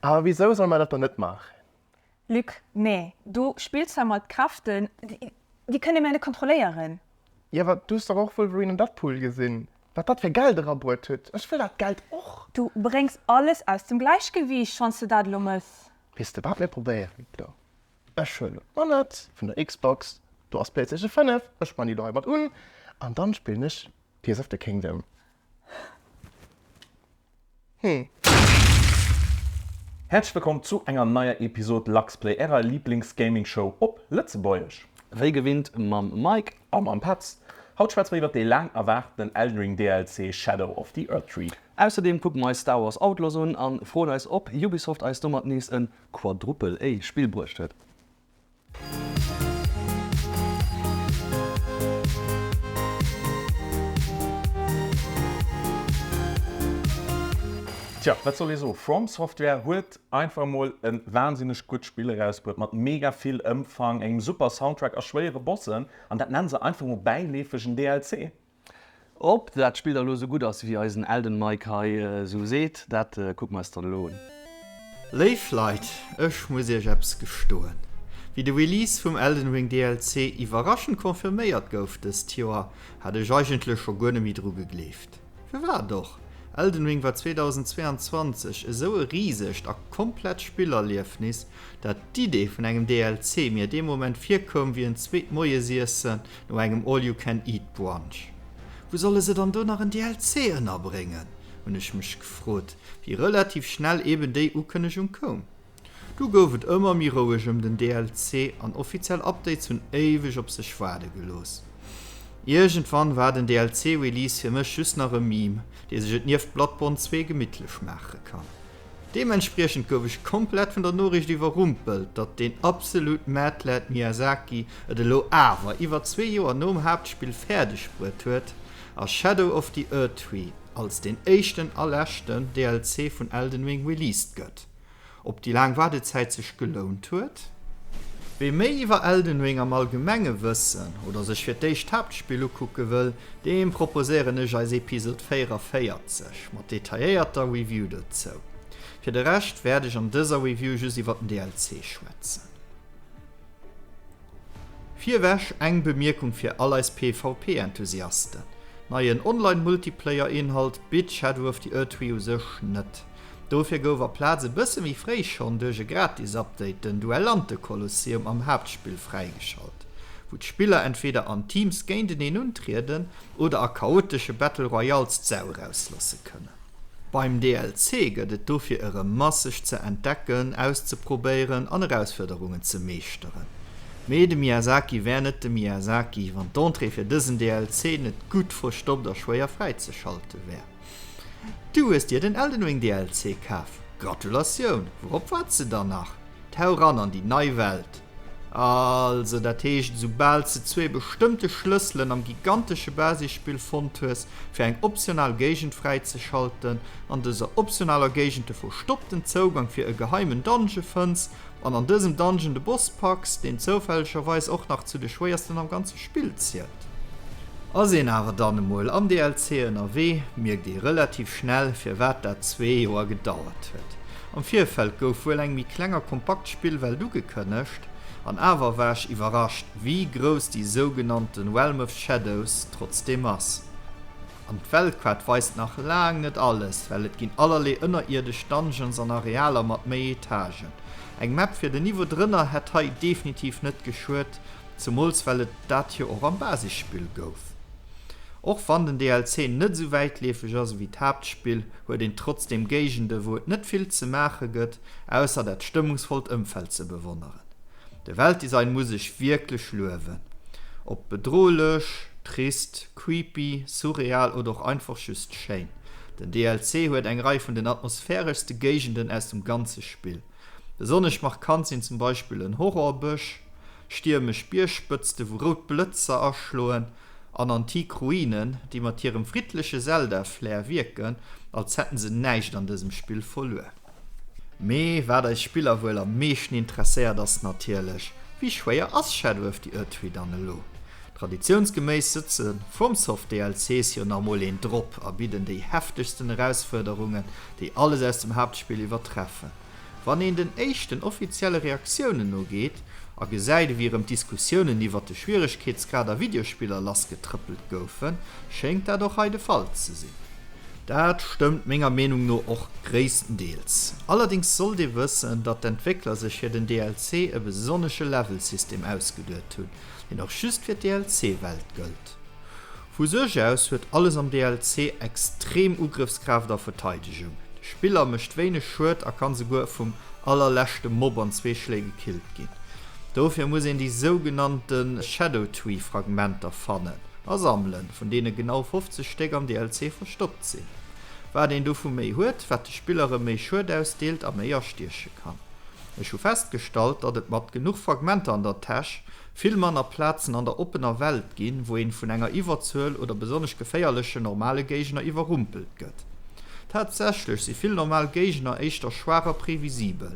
Awer wisou soll mer dat dann net maachen? Luc, Nee, du spills hei mat Kräften, déi kënne mer net kontrolléieren. Jo, du hues dach och Wolverine an Deadpool gesinn, wat dat fir Geld erabuert huet. Ech wëll dat Geld och. Du bréngs alles aus dem Gläichgewiicht, schonns de dat elo mëss. Weess de wat, mir probéieren et elo. Ech huelen d'Manett vun der Xbox, do ass d'Playstation 5, ech man déi elo hei mat un an dann spillen ech Tears of the Kingdom. Hm. Häerzlech wëllkomm zu enger neier Episode Luxplay, ärer Lieblingsgaming-Show op Lëtzebuergesch. Wéi gewinnt mam Mike a mam Petz. Haut schwätze mer iwwert dee laang erwaarten Elden Ring DLC Shadow of the Erdtree. Ausserdeem kucke mer eis Star Wars Outlaws un an froen eis op Ubisoft eis domat nees en Quadruple-A Spill bruecht huet. Tjo, wat soll ee soen, From Software huet einfach emol e wahnsinneg gutt Spill erausbruet, mat mega vill Ëmfang, engem super Soundtrack a schwéiere Bossen, an dat nennen se einfach emol bäileefeg en DLC? Ob dat Spill da lo sou gutt ass wéi eisen Elden Mike hei sou seet, dat kucke mer eis dann elo un. Léif Leit, ech muss iech eppes gestoen. Wéi de Release vum Elden Ring DLC iwwerraschend confirméiert gouf dëst Joer, hat ech eigentlech scho guer net méi dru gegleeft. Firwat och? Elden Ring war 2022 esou e risegt a komplett Spillerliefnis, dat d'Idee vun engem DLC mir dee Moment virkoum wéi en zweet Moiesiesse No engem All You Can Eat Brunch, wou solle se dann do nach en DLC ënnerbréngen? hunn ech mech gefrot, wéi relativ schnell eben déi Ukënnegung koum. Du gouf et ëmmer méi roueg ëm den DLC an offiziell Updates hunn éiweg op sech waarde gelooss. Iergendwann war den DLC-Release fir mech just nach e Meme, dee sech et nieft Bloodborne 2 gemittlech maache kann. Deementspriechend gouf ech komplett vun der Noriicht iwwerrumpelt, datt deen absolut Mad-Lad Miyazaki et elo awer iwwer zwee Joer nom Haaptspill fäerdeg bruet huet, a Shadow of the Erdtree als deen éischten a leschten DLC vun Elden Ring released gëtt. Ob déi laang Waardezäit sech gelount huet? Wie méi iwwer Elden Ring am Allgemenge wëssen, oder sech fir d'éischt d'Haaptspill ukucke wëll, Deem proposéieren ech eis Episod 44 mat detailléierter Review dozou. Fir de Rescht wäert ech an dëser Review just iwwer den DLC schwätzen. Virwech eng Bemierkung fir all eis PvP Enthusiasten, Neien Online Multiplayer Inhalt bitt Shadow of the Erdtree u sech net. Dofir gouf a Plaz e bësse méi fréi schonn duerch e gratis Update den Duellante-Kolosseum am Haaptspill fräigeschalt, wou d'Spiller entweeder an Teams géinteneen untrieden oder a chaotesche Battle Royales d'Sau erauslasse kënnen. Beim DLC gëtt et dofir erëm masseg ze entdecken, auszeprobéieren an Erausfuerderungen ze meeschteren. Mee de Miyazaki wär net de Miyazaki, wann d'Entrée fir dësen DLC net gutt verstoppt a schwéier fräizeschalten wär. Du hues dir den Elden Ring DLC kaf? Gratulatioun! Wourop waarts de dann nach? Tauch eran an déi nei Welt! Also, dat heescht, esoubal s de zwee bestëmmte Schlësselen am gigantesche Basisspill fonnt hues, fir eng optional Géigend fräizeschalten, an dëser optionaler Géigend de verstoppten Zougang fir e geheimen Dungeon fënns, Wann an dësem Dungeon de Boss packs, deen zoufällegerweis och nach zu de schwéiersten am ganze Spill zielt, ass een awer dann emol am DLC ënnerwee, mierkt ee relativ schnell firwat dat zwee Joer gedauert huet. Am Virfeld gouf wuel eng méi kleng a kompakt Spillwelt ugekënnegt, an awer war ech iwwerrascht wéi grouss déi sougenannten Realm of Shadows trotzdeem ass. An d'Weltkaart weist nach laang net alles, well et ginn allerlee ënnerierdesch Dungeons an Arealer mat méi Etagen. Eng Map fir den Niveau drënner hätt hei definitiv net geschuet, zemools well et dat jo och am Basisspill gouf. Och wann den DLC net esou wäitleefeg ass ewéi d'Haaptspill, huet een trotzdeem Géigende wou et net vill ze maache gëtt, ausser dat stëmmungsvollt Ëmfeld ze bewonneren. De Weltdesign muss ech wierklech luewen, ob bedrohlech, trist, Creepy, surreal oder och einfach just schéin, den DLC huet eng Rei vun den atmosphäreschste Géigenden aus dem ganze Spill. Besonnesch markant sinn zum Beispill en Horrorbësch, stiermesch Biergspëtzte wou rout Blëtzer aschloen an antik Ruinen, déi mat hirem friddleche Zelda-Flair wierken, als hätten se näischt an dësem Spill verluer. Mee wat eis Spiller wuel am meeschten interesséiert ass natierlech, Wéi schwéier ass Shadow of the Erdtree dann elo? Traditiounsgeméiss sëtze FromSoft DLCs jo nach mol een drop a bidden déi heftegsten Erausfuerderungen, déi alles aus dem Haaptspill iwwertreffen. Wann een den éischten offizielle Reaktiounen nogeet a gesäit ewéi erëm d'Diskussiounen iwwert de Schwieregkeetsgrad a Videospiller lassgetrëppelt goufen, schéngt dat och hei de Fall ze sinn. Dat stëmmt menger Meenung no och gréisstendeels. Allerdings sollt ee wëssen, datt d'Entwéckler sech fir den DLC e besonnesche Level-System ausgeduet hunn, deen och just fir d'DLC-Welt gëllt. Vu sech aus huet alles am DLC extrem Ugrëffskraaft a Verteidegung, de Spiller mécht wéineg Schued a kann souguer vum allerleschte Mob an zwee Schléi gekillt ginn. Dofir muss een déi sougenannte Shadow Tree Fragmenter fannen a sammelen, vun deene genau 50 Stéck am DLC verstoppt sinn. Wat een dovu méi huet, wat de Spillere méi Schued ausdeelt a méi astieche kann. Ech hu festgestallt, datt et mat genuch Fragmenter an der Täsch vill manner Plazen an der oppener Welt ginn, wou een vun enger Iwwerzuel oder besonnesch geféierlechen normale Géigner iwwerrumpelt gëtt. Tatsächlech si vill normal Géigner éischter schwaach a previsibel,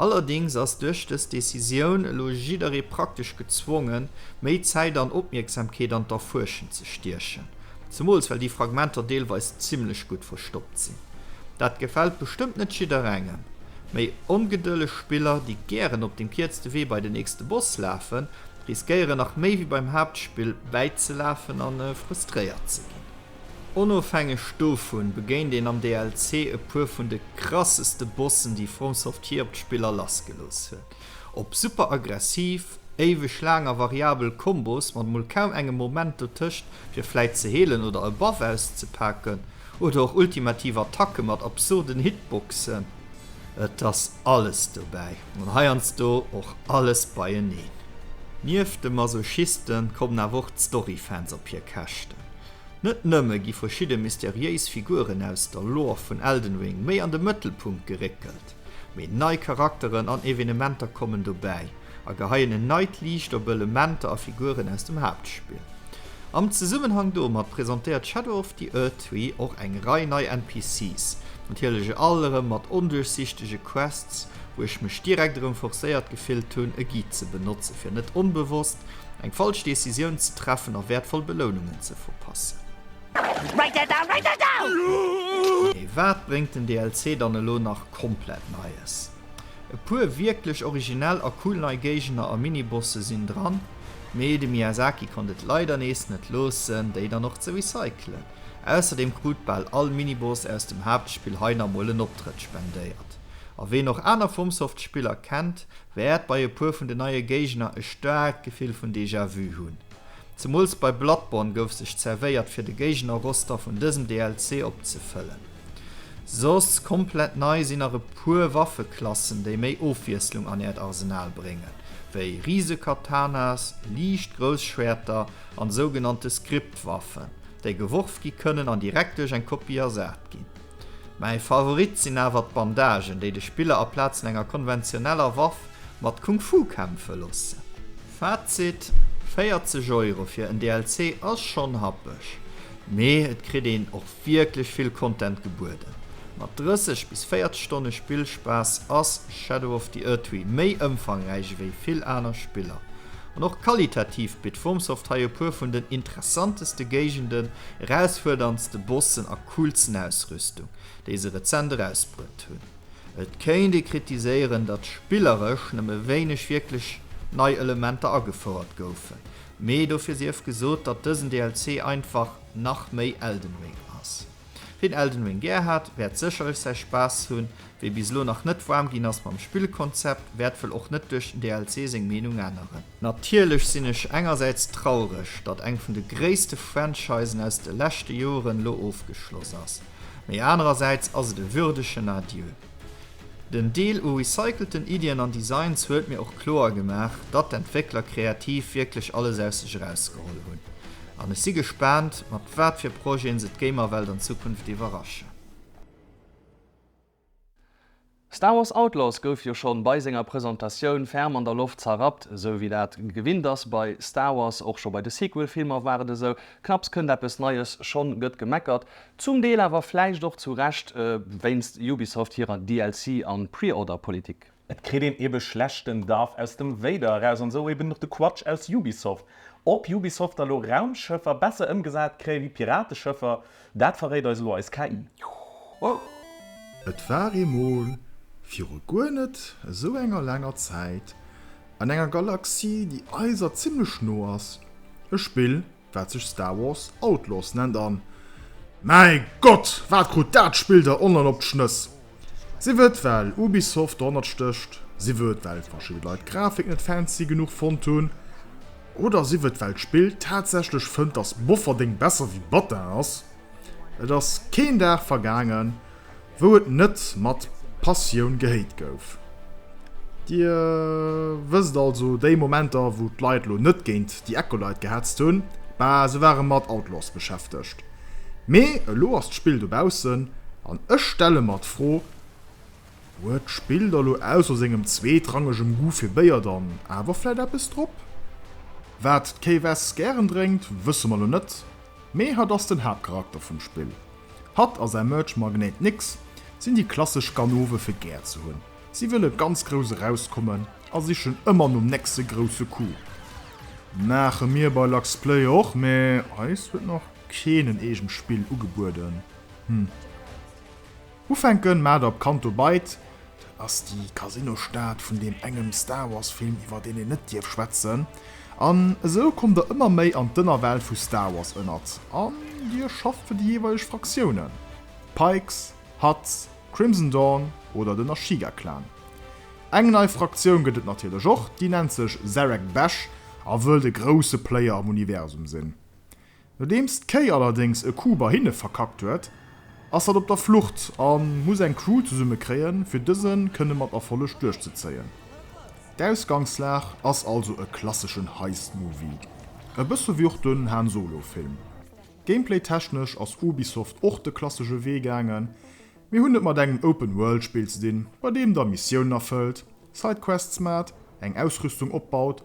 Allerdéngs ass duerch dës Decisioun elo jidderee praktesch gezwongen, méi Zäit an Opmierksamkeet an d'Erfuerschen ze stiechen, zemools well déi Fragmenter deelweis zimmlech gutt verstoppt sinn. Dat gefält bestëmmt net jidderengem. Méi ongedëlleg Spiller, déi gären op dem kierzte Wee bei den nächste Boss lafen, riskéieren nach méi wéi beim Haaptspill bäizelafen a frustréiert ze ginn. Onofhängeg dovun begéint een am DLC e puer vun de krasseste Bossen déi FromSoft jee op d'Spiller lassgelooss huet. Op super aggressiv, éiweg laang a variabel Kombos mat mol kaum engem Moment dotëscht fir vläit ze heelen oder e Buff auszepaken, oder och ultimativ Attacke mat absurden Hitboxen, et ass alles dobäi an heiansdo och alles beieneen. Nieft de Masochisten kommen awer och d'Story-Fans op hir Käschten. Net nëmme gi verschidde mysteriéis Figuren aus der Lore vun Elden Ring méi an de Mëttelpunkt geréckelt, mee nei Charakteren an Evenementer kommen dobäi a geheien en neit Liicht op Elementer a Figuren aus dem Haaptspill. Am Zesummenhang domat presentéiert Shadow of the Erdtree och eng Rei nei NPCs, natierlech all erëm mat onduerchsichtege Quests, wou ech mech direkt erëm forcéiert gefillt hunn, e Guide ze benotze fir net onbewosst eng falsch Decisioun ze treffen a wäertvoll Belounungen ze verpassen. Mee wat bréngt den DLC dann elo nach komplett Neies? E puer wierklech originell a cool nei Géigner a Minibosse sinn dran, mee de Miyazaki konnt et leider nees net loossen, déi dann och ze recyclen. Ausserdeem krut bal all Miniboss aus dem Haaptspill hei nach mol en Optrëtt spendéiert. A ween och aner FromSoft-Spiller kennt, Wäert bei e puer vun den neie Géigner e staarkt Gefill vun Déjà-Vu hunn. Zemools bei Bloodborne gouf sech zerwéiert fir de Géigner-Roster vun dësem DLC opzefëllen. Soss komplett nei sinn nach e puer Waffeklassen, déi méi Ofwiesslung an äert Arsenal bréngen, wéi Risekatanas, liicht Grousschwäerter an sougenannte Script-Waffen, déi geworf gi kënnen an direkt duerch eng Kopie ersat ginn. Mäi Favorit sinn awer d'Bandagen, déi de Spiller aplaazen enger konventioneller Waff mat Kung-Fu kämpfe loossen. Fazit, 40 Euro fir en DLC ass schonn happeg, mee et kritt een och wierklech vill Content gebueden. Mat 30 bis 40 Stonne Spillspaass ass Shadow of the Erdtree méi ëmfangräich ewéi vill aner Spiller. An och qualitativ bitt FromSoft hei e puer vun den interessanteste Géigenden, erausfuerderndste Bossen a. coolsten Ausrüstung, déi se rezent erausbruet hunn. Et kéint ee kritiséieren, datt spilleresch nëmme wéineg wierklech nei Elementer agefouert goufen, mee dofir sief gesot, datt dësen DLC einfach nach méi Elden Ring ass. Wien Elden Ring gär hat, wäert sécherlech säi Spaass hunn, wee bis elo nach net waarm ginn ass mam Spillkonzept, wäert wuel och net duerch den DLC seng Meenung änneren. Natierlech sinn ech engersäits traureg, datt eng vun de gréisste Franchisen aus de leschte Joren elo ofgeschloss ass, mee anerersäits ass et e würdegen Adieu. Den Deal u recycelten Iddien an Designs huet mir och kloer gemaach, datt d'Entwéckler kreativ wierklech alles aus sech erausgeholl hunn an ech si gespaant, mat wat fir Projeten se d'Gamerwelt an Zukunft iwwerraschen. Star Wars Outlaws gouf jo schonn bei senger Presentatioun ferm an der Loft zerrappt, esou wéi dat gewinnt ass bei Star Wars. Och scho bei de Sequel Filmer war et esou, knapps kënnt eppes Neies, schonn gëtt gemeckert. Zum Deel awer vläicht och zu Recht wéinst Ubisoft hirer DLC an Preorder Politik. Et kritt een eben schlechten Duff aus dem Vader eraus an sou eben och de Quatsch aus Ubisoft. Op Ubisoft da lo Raumschëffer besser emgesat kréie wéi Pirateschëffer, dat verréit eis elo eis KI. Et war eemol, viru guer net esou enger laanger Zäit, an enger Galaxie, déi eiser zimmlech no ass, e Spill, wat sech Star Wars Outlaws nennt an mäi Gott wat krut dat Spill der online op d'Schnëss! Sief et well Ubisoft dorhannert stécht, sief et well verschidde Leit d'Grafik net fancy genuch fonnt hunn oder sief et well d'Spill tatsächlech fënnt dass Bofferdeng besser wéi Battin ass, et ass keen Dag vergaangen wou et net mat Passioun gehéit gouf. Dir wësst also, déi Momenter, wou d'Leit elo net géint déi Acolyte gehetzt hunn, bah, se ware mat Outlaws beschäftegt. Mee elo ass d'Spill dobaussen, an ech stelle mer d'Fro, Huet d'Spill da lo ausser sengem zweetrangegem Goût fir Béier dann awer vläit eppes drop? Wat d'Kay Wes gären drénkt, wësse mer lo net, mee hatt ass den Haaptcharakter vum Spill. Hatt a säi Merch Magnéit Nix sinn déi klassesch Ganoven fir gär ze hunn. Si wëlle ganz grouss erauskommen a sichen ëmmer nom nächste grousse Coup. Maache mir bei Luxplay och, mee eis huet nach keen en eegent Spill ugebueden. Hm. Ufänken maacht op Canto Bight Dat ass déi Casino-Stad vun deem engem Star Wars-Film, iwwer deen een net dierf schwätzen. An esou kommt der ëmmer méi an d'Ënnerwelt vu Star Wars ënnert an Dir schafft fir déi jeeweileg Fraktiounen, Pikes, Hutts, Crimson Dawn oder den Ashiga-Clan. Eng nei Fraktioun gëtt et natierlech och, déi nennt sech Zereg Besh a wëllt e grousse Player am Universum sinn. Nodeems d'Kéi allerdéngs e Coup bei hinne verkackt huet, ass dat op der Flucht a muss eng Crew zesumme kréien, fir dëse kënne mat Erfolleg duerchzezéien. D'Ausgangslag ass also e klasseschen Heist-Movie, e bësse wéi och den Han Solo-Film. Gameplay-technesch ass Ubisoft och de klassesche Wee gaangen. Mir hunn et mat engem Open-World-Spill ze dinn, bei deem der Missiounen erfëllt, Side-Quests maacht, eng Ausrüstung opbaut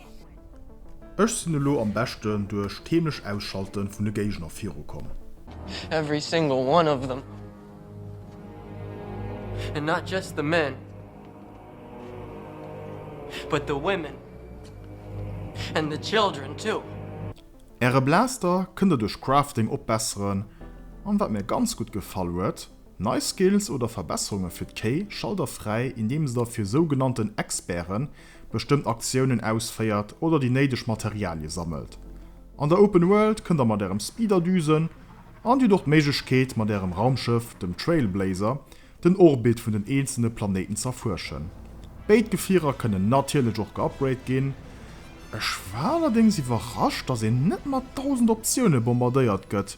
Ech sinn elo am beschten duerch d'heemlecht Ausschalten vun de Géigner viru komm. Every single one of them and not just the men but the women and the children too. Äre Blaster kënnt der duerch Crafting opbesseren an wat mir ganz gutt gefall huet, nei Skills oder Verbesserunge fir d'Kéi schalt der fräi indeems der fir sougenannten Experten bestëmmt Aktiounen ausféiert oder déi néideg Materialie sammelt. An der Open World kënnt der mat ärem Speeder düsen an dir hutt och d'Méiglechkeet mat ärem Raumschëff, dem Trailblazer, den Orbit vun den eenzelne Planéiten z'erfuerschen. Béid Gefierer kënnen natierlech och geupgrade ginn. Ech war allerdéngs iwwerrascht, dass een net mat 1000 Optioune bombardéiert gëtt.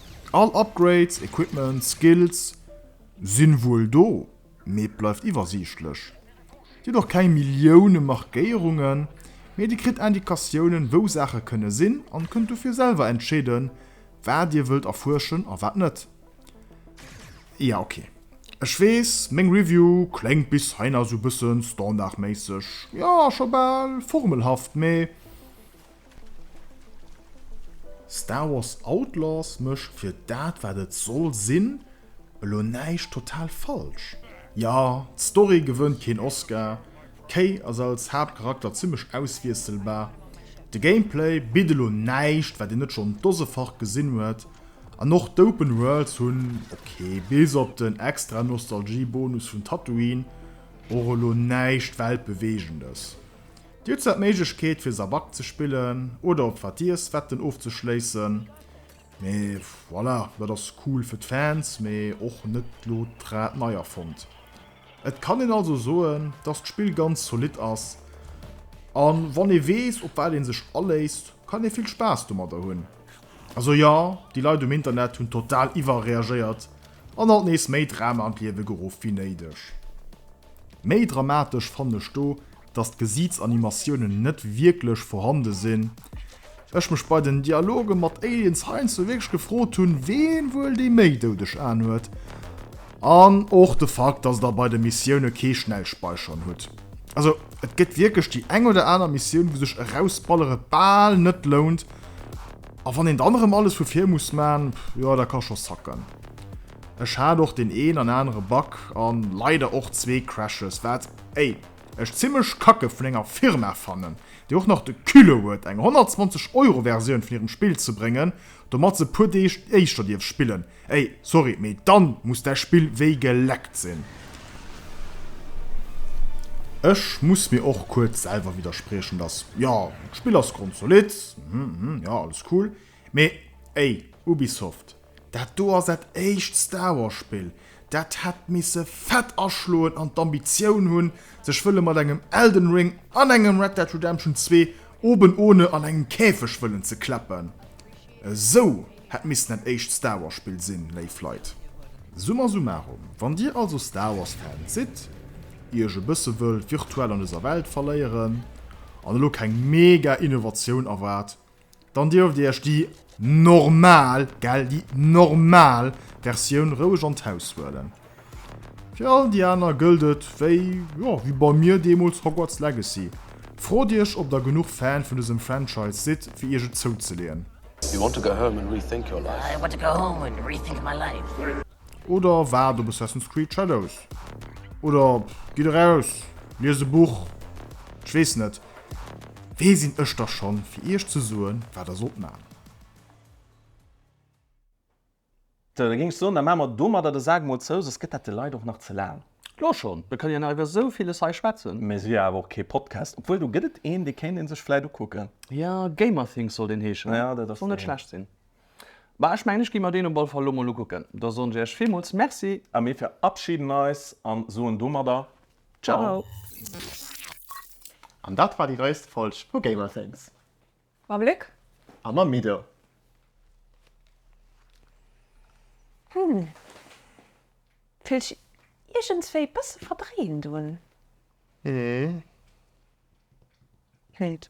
All Upgrades, Equipment, Skills sinn wuel do, mee et bleift iwwersiichtlech. Dir hutt och keng Millioune Markéierungen, mee dir kritt Indikatiounen wou Saache kënne sinn an kënnt dofir selwer entscheeden wat dir wëllt erfuerschen a wat net. Jo ok, ech weess meng Review kléngt bis heiansou bëssen standardméisseg, jo scho bal formelhaft, mee. Star Wars Outlaws mécht fir dat wat et soll sinn elo näischt total falsch. Jo, d'Story gewënnt keen Oscar, Kay ass als Haaptcharakter zimmlech auswiesselbar, de Gameplay bitt elo näischt wat een net schonn dosefach gesinn huet, an och d'Open Worlds hunn, ok, bis op den extra Nostalgie-Bonus vun Tatooine, och elo näischt weltbeweegendes. Dir hutt zwar d'Méiglechkeet fir Sabak ze spillen oder op wat Diers wetten ofzeschléissen, mee voilà, dat ass cool fir d'Fans, mee och net lo d'Rad nei erfonnt. Et kann een also soen, dass d'Spill ganz zolidd ass an wann ee weess op wat een sech aléisst, kann ee vill Spaass domadder hunn. Also jo, déi Leit um Internet hunn total iwwerreagéiert an alt nees méi Drama an d'Liewe geruff wéi néideg. Méi dramatesch fannen ech do dass d'Gesiitsanimatiounen net wierklech vorhande sinn, ech mech bei den Dialoge mat Aliens heiansdo wierklech gefrot hunn, ween wuel déi méi doudeg Aen huet. An och de Fakt, dass der bei de Missioune kee Schnellspeichern hutt. Also et gëtt wierklech déi eng oder aner Missioun, wou sech erausballere bal net lount. A wann een dann erëm alles vu vir muss man, jo dat ka scho sacken. Ech hat och deen een an anere Bug an leider och zwee Crashes, wat ey! Ech zimlech kacke vun enger Firma fannen, déi och nach de Culot huet eng 120 Euro Versioun vun hirem Spill ze bréngen, domat se e puer Deeg éischter dierf spillen. Ey, sorry, mee dann muss däi Spill wéi geleckt sinn. Ech muss mir och kuerz selwer widderspriechen, dass, jo, d'Spill ass grondsolidd, hm, hm, jo, alles cool, mee ey, Ubisoft, Dat do ass dat éischt Star Wars Spill, dat hätt misse fett aschloen an d'Ambitioun hunn sech wëlle mat engem Elden Ring an engem Red Dead Redemption 2 oben ohne an engem Käfeg wëllen ze klappen. Esou hätt missen dat éischt Star Wars Spill sinn, léif Leit. Summa summarum, wann dir also Star Wars Fans sidd, iech e bësse wëllt virtuell an dëser Welt verléieren an elo keng mega Innovatioun erwaart, Dann dierft Dir Iech déi normal, gell, déi normal Versioun roueg an d'Haus huelen. Fir all déi aner gëllt et wéi, jo, wéi bei mir deemools Hogwarts Legacy. Frot Iech, ob Der genuch Fan vun dësem Franchise sidd, fir Iech et zouzeleeën. You want to go home and rethink your life? I want to go home and rethink my life. Oder waart op Assassin's Creed Shadows. Oder gitt eraus, liest e Buch. Ech weess net, wee sinn ech da schonn, fir iech ze soen, wat der sollt maachen. Sou, da géing ech soen, da maache mer domadder de Sak mol zou, soss gëtt dat de Leit och nach ze laang. Elo schonn? Mir kënne jo nach iwwer esou villes hei schwätzen. Mee se wier awer och kee Podcast. Obwuel, do gëtt et een, dee kéint ee sech vläit ukucken. Jo, Gamerthings sollt een heeschen, soll net schlecht sinn. Bah ech mengen ech gi mer deen op all Fall lo mol ukucken. Da soen ech äech villmools Merci. A mir verabschieden eis an soen domadder Ciao! An dat war déi neist Folg vu GamerThings. Mam Luc. A mam Mido. Hm, fillt sech iergendswéi e bësse verdréint un. Hm. Hint.